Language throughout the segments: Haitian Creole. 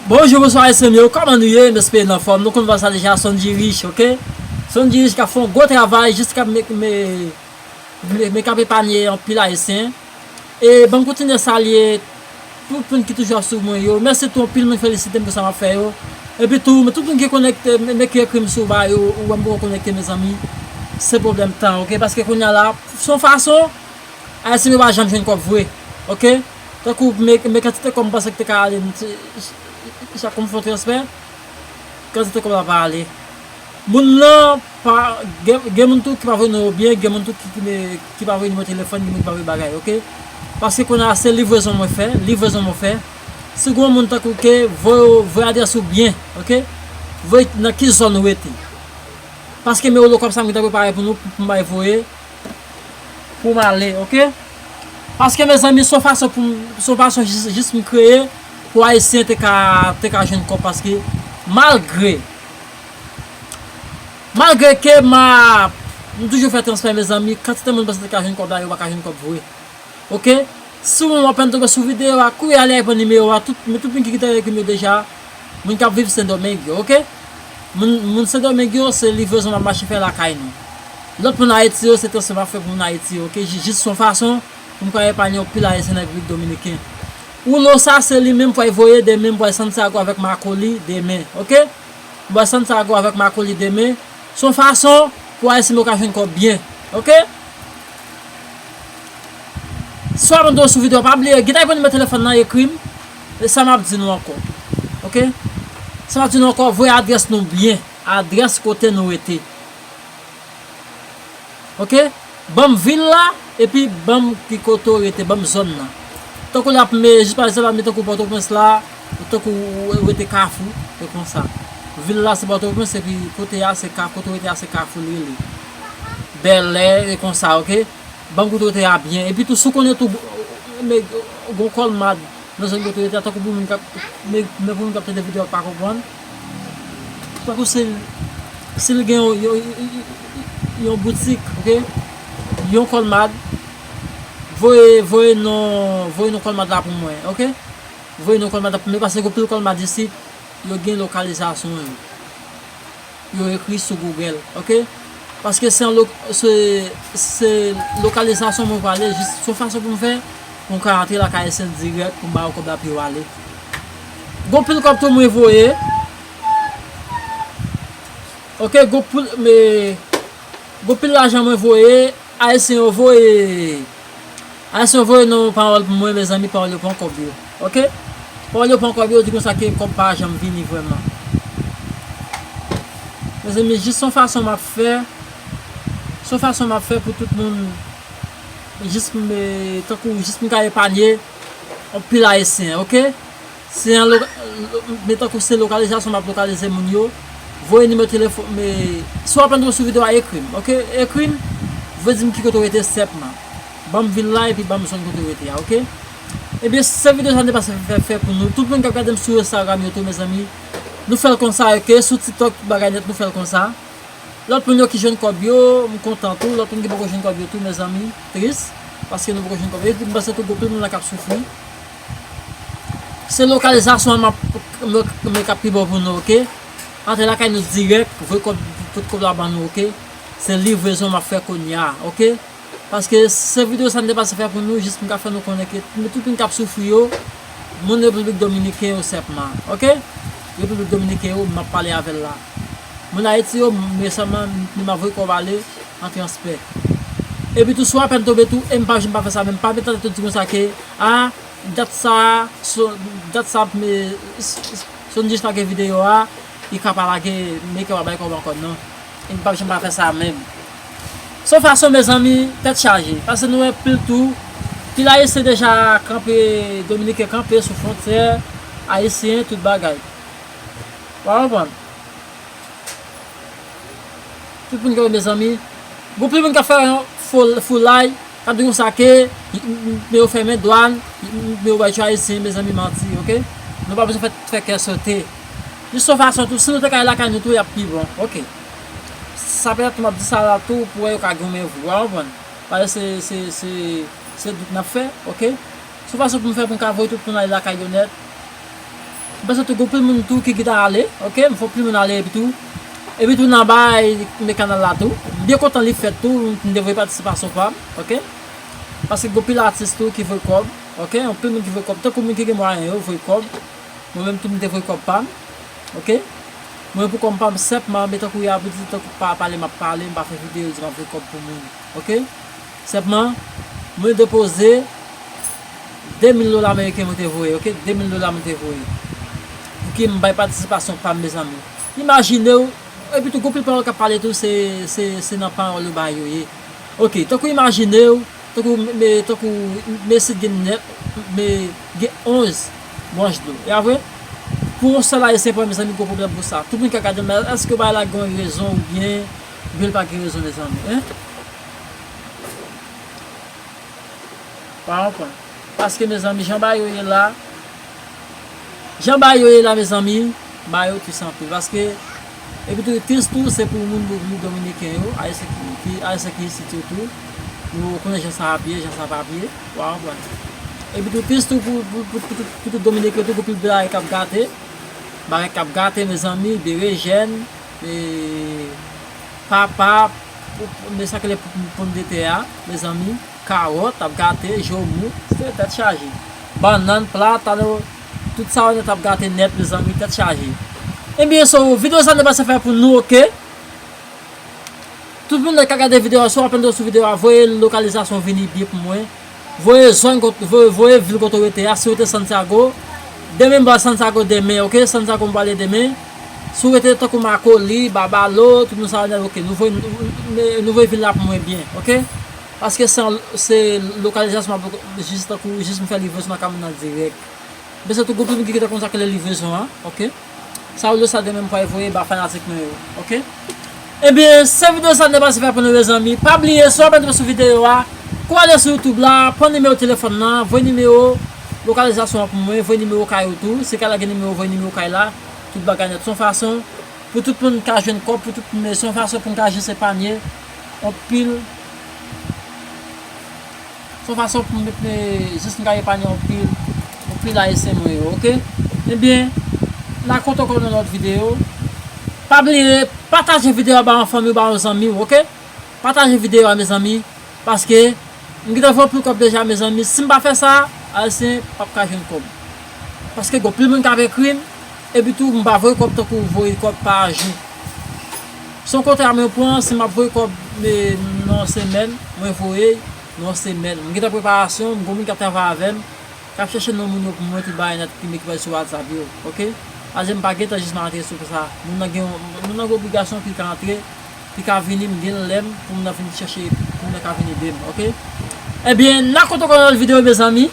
Bonjou bonswa mesye m yo kòman nou ye m espere nou anfòm nou konn vwa sa deja sondjy riche ok sondjy riche kap fè yon gwo travay jis kap men kap epanye anpil ayisyen e banm kontinye salye tout moun ki toujou ap swiv mwen yo mèsi tou anpil moun felisitem pou sa map fè yo epi tou tout moun ki konekte men ki ekrim sou ba yo ou wèm poko konekte mezanmi se pwoblèm tan ok paske kounya la son fason ayisyen yo pa janm jwenn kòb vre ok. tankou men kantite kòb m panse ki te ka ale chak fwa m fè yon transfè kantite kòb la pa ale moun lan pa gen moun tou ki pa voye non yo byen gen moun tou ki pa voye nimewo telefòn gen moun ki pa voye bagay ok paske kounye a se livrezon mwen fè livrezon mwen fè si gen yon moun tankou ke voye adrès ou byen ok voye nan ki zòn ou rete paske men olokòb sa mwen ta prepare pou nou pou m bay voye poum ale ok paske mezanmi son fason poum son fason jis m kreye pou ayisyen te ka te ka jwenn kòb paske malgre malgre ke map m toujou fè transfè mezanmi kantite moun m panse te ka jwenn kòb la yo paka jwenn kòb vre ok si w apenn tonbe sou video a kouri ale repran nimewo a tout moun ki te ekrim yo deja. Moun kap viv sendomeng yo ok. Moun moun sendomeng yo se livrezon map mache fè lakay nou. Lòt moun ayiti yo se transfè map fè pou moun ayiti yo ok jis son fason poum ka epanye yon pil ayisyen nan repiblik dominiken. Uno sa se li menm pway voye demen m pway santiago avèk makoli demen ok m pway santiago avèk makoli demen son fason pou ayisyen m yo ka jwenn kòb byen ok. Swa mande w sou video a pa bliye gin ta yon nimewo telefòn nan ekrim. E sa map di nou ankò ok sa map di nou ankò voye adrès nou byen adrès kote nou rete ok banm vil la epi banm ki kote ou rete banm zòn nan tankou la ap me jis pa ekzanp admeton tankou pòtoprens la tankou ou rete kafou se konsa vil la se pòtoprens epi kote a se ka kote ou rete a se kafou li rele bèlè e konsa ok. Banm kote ou te a byen epi tou si w konnen tou nèg gon kòl mad nan zòn kote ou te a tankou pou moun kap men pou moun kap tande video a k pa konprann tankou si si l gen yon boutik ok yon kòl mad voye voye non voye non kòl mad la pou mwen ok voye non kòl mad la pou mwen paske gon pil kòl mad isit yo gen lokalizasyon yo. yo ekri sou Google ok paske se se lokalizasyon mwen pale jis son fason pou m fè pou m ka antre lakay Esen dirèk pou m ba yo kòb la pou yo ale gon pil kòb tou mwen voye ok gon pil me gon pil lajan mwen voye Ayisyen yo voye. Ayisyen voye nou pawòl pou mwen mezanmi pawòl yo pran kòb yo ok pawòl yo pran kòb yo di konsa ke kòb pa janm vini vrèman mezanmi jis son fason map fè son fason map fè pou tout moun jis tankou jis m ka epanye anpil ayisyen ok. Se an lo, men tankou se lokalizasyon map lokalize moun yo, voye nimewo telefon, me, si wap antre sou video a ekrim ok, ekrim, voye dim ki kote ou rete senpman, banm vil la epi banm zòn kote ou rete a ok, ebyen se video sa mte pase fè fè pou nou, tout moun kap gadem sou Instagram yo tou mezanmi, nou fèl konsa ok, sou tiktok tout bagay nèt nou fèl konsa, lòt moun yo ki jwenn kòb yo, mkontan tou, lòt moun ki poko jwenn kòb yo tou mezanmi, tris, paske nou poko jwenn kòb yo, epi mpanse tou gen anpil moun la kap soufri. Se lokalizasyon an map mwen kap pi bon pou nou ok antre lakay nou dirèk voye kòb tout kòb la ban nou ok se livrezon map fè kounya ok paske se video sa m te pase fè pou nou jis pou m ka fè nou konnen ke tout moun kap soufri yo moun repiblik dominiken yo sèpman ok repiblik dominiken yo map pale avèl la moun ayiti yo mwen sèlman map voye kòb ale an transpè. Epi tou sou apèl tonbe tou em pa janm pa fè sa menm pa met nan tèt ou di konsa ke ah dat sa dat sa Sondjie s lage videyo a li ka pa lage Mecca pa bay kòb ankò nan em pa janm pa fè sa menm. Son fason mezanmi tèt chaje pase nou wè pil tou pil ayisyen deja kanpe dominiken kanpe sou fwontyè ayisyen tout bagay. Wa konprann. Tout moun gen mezanmi. Gon pil moun kap fè yon foulay, kap di konsa ke men yo fèmen dwàn, men yo bay tchou ayisyen, mezanmi manti ok. Nou pa bezwen fè kè sote. Jis yon fason tou, si nou te ka al lakay nou tou yap pi bon ok. Sa petèt tou map di sa la tou pou wè yo ka goumen vre, ou konprann. Pale se se se dout nap fè ok. Son fason pou m fè pou m ka voye tout moun ale lakay yo nèt. M panse tou gen anpil moun tou ki gita ale ok m fè anpil moun ale epi tou epi tou nan bay me kanal la tou m byen kontan li fèt tou m te voye patisipasyon pam ok paske gen anpil atis tou ki voye kòb ok anpil moun ki voye kòb tankou moun ki gen mwayen yo voye kòb mwen menm tou m te voye kòb pam ok mwen pou kòm pam senpman me tankou ya pou di tankou pa pale m ap pale m pa fè videyo di m ap voye kòb pou moun ok. Senpman, mwen depoze 2000 dola ameriken mwen te voye, ok, 2000 dola mwen te voye. Pouki m bay patisipasyon pa m mezanmi? Imajine w, epi tou gon pil pawòl k ap pale tou se nan pawòl yo bay yo ye. Ok, tankou imajine w, tankou me, tankou me si t gen nè, me gen 11 branch dlo. E a vre? Pou yon sèl ayisyen pran mezanmi gon pwoblèm pou sa. Tout moun ka gade m la, èske bagay la gen yon rezon oubyen l pa gen rezon mezanmi, hein? Pa konprann. Paske mezanmi jan bayo ye la Jan bayo ye la mezanmi bayo tus anpil paske epitou tus tou se pou moun repiblik dominiken yo ayisyen ki ayisyen ki isit yo tou nou konnen jan sa ap ye jan sa pap ye wa konprann epitou tus tou pou tout dominiken tou pou tout bagay kap gate bagay kap gate mezanmi berejèn ee papa Men sa ki le pou pomdetè a mezanmi, kawòt ap gate, joumou, se tèt chaje. Bannann, platano, tout sa yo nèt ap gate nèt mezanmi, tèt chaje. Ebyen so video sa nou pase fè pou nou ok. Tout moun nèt ka gade video a, si w ap entereso sou video a voye lokalizasyon w vini di pou mwen. Voye zong voye vil kote ou rete a si ou rete Santiago demen m pral Santiago demen ok Santiago m prale demen si ou rete tankou Makoli Babalo tout moun sa yo nèt ok nou voye vil la pou mwen byen ok paske se lokalizasyon map jis tankou jis m fè livrezon nan ka moun nan dirèk m pese tou goup moun ki rete kontakte livrezon an ok. Sa ou yo sa demen m pral voye ba fanatik mwen yo ok ebyen se video sa m te pase fè pou nou mezanmi pa bliye si w apen tonbe sou video a kou ale sou youtube la pran nimewo telefòn lan voye nimewo lokalizasyon an pou mwen voye nimewo kay ou tou si kay la gen nimewo voye nimewo kay la tout bagay nèt se yon fason pou tout moun ka jwenn kòb pou tout moun se yon fason pou n ka aji se panye anpil. son fason pou m jis m ka epanye anpil anpil ayisyen mwen yo ok ebyen m a kont ankò nan lòt video pa bliye pataje video a ba yon fanmiw ba yon zanmiw ok pataje video a mezanmi paske m gentan fè anpil kòb deja mezanmi si m pa fè sa ayisyen pap ka jwenn kòb paske gen anpil moun kap ekrim. Epi tou m pa voye kòb tankou ou voye kòb pa jou. Se yon kontra mwen pran, si m ap voye kòb nan yon semèn, mwen voye l nan yon semèn. M gen tan preparasyon, m gen yon moun k ap travay avè m, k ap chèche non moun yo pou mwen, tout bagay nan ki mete sou whatsapp yo, ok. Sa vle di m pa gen tan jis m ap antre sou konsa. Moun nan gen moun nan gen obligasyon pou l ka antre, pou l ka vini, m gen lè m pou moun nan vin chèche, pou moun nan ka vin ede m, ok. Ebyen, nan kote w konn al videyo mezanmi?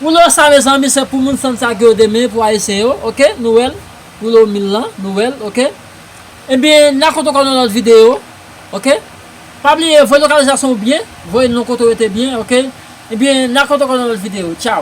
Roulo sa mezanmi se pou moun san sa ke yo te men pou ayisyen yo ok nou wèl roulo mil lan nou wèl ok ebyen na koto kò nan lòt video ok pa bliye voye lokalizasyon ou byen voye non kote ou rete byen ok ebyen na koto kò nan lòt video tchao.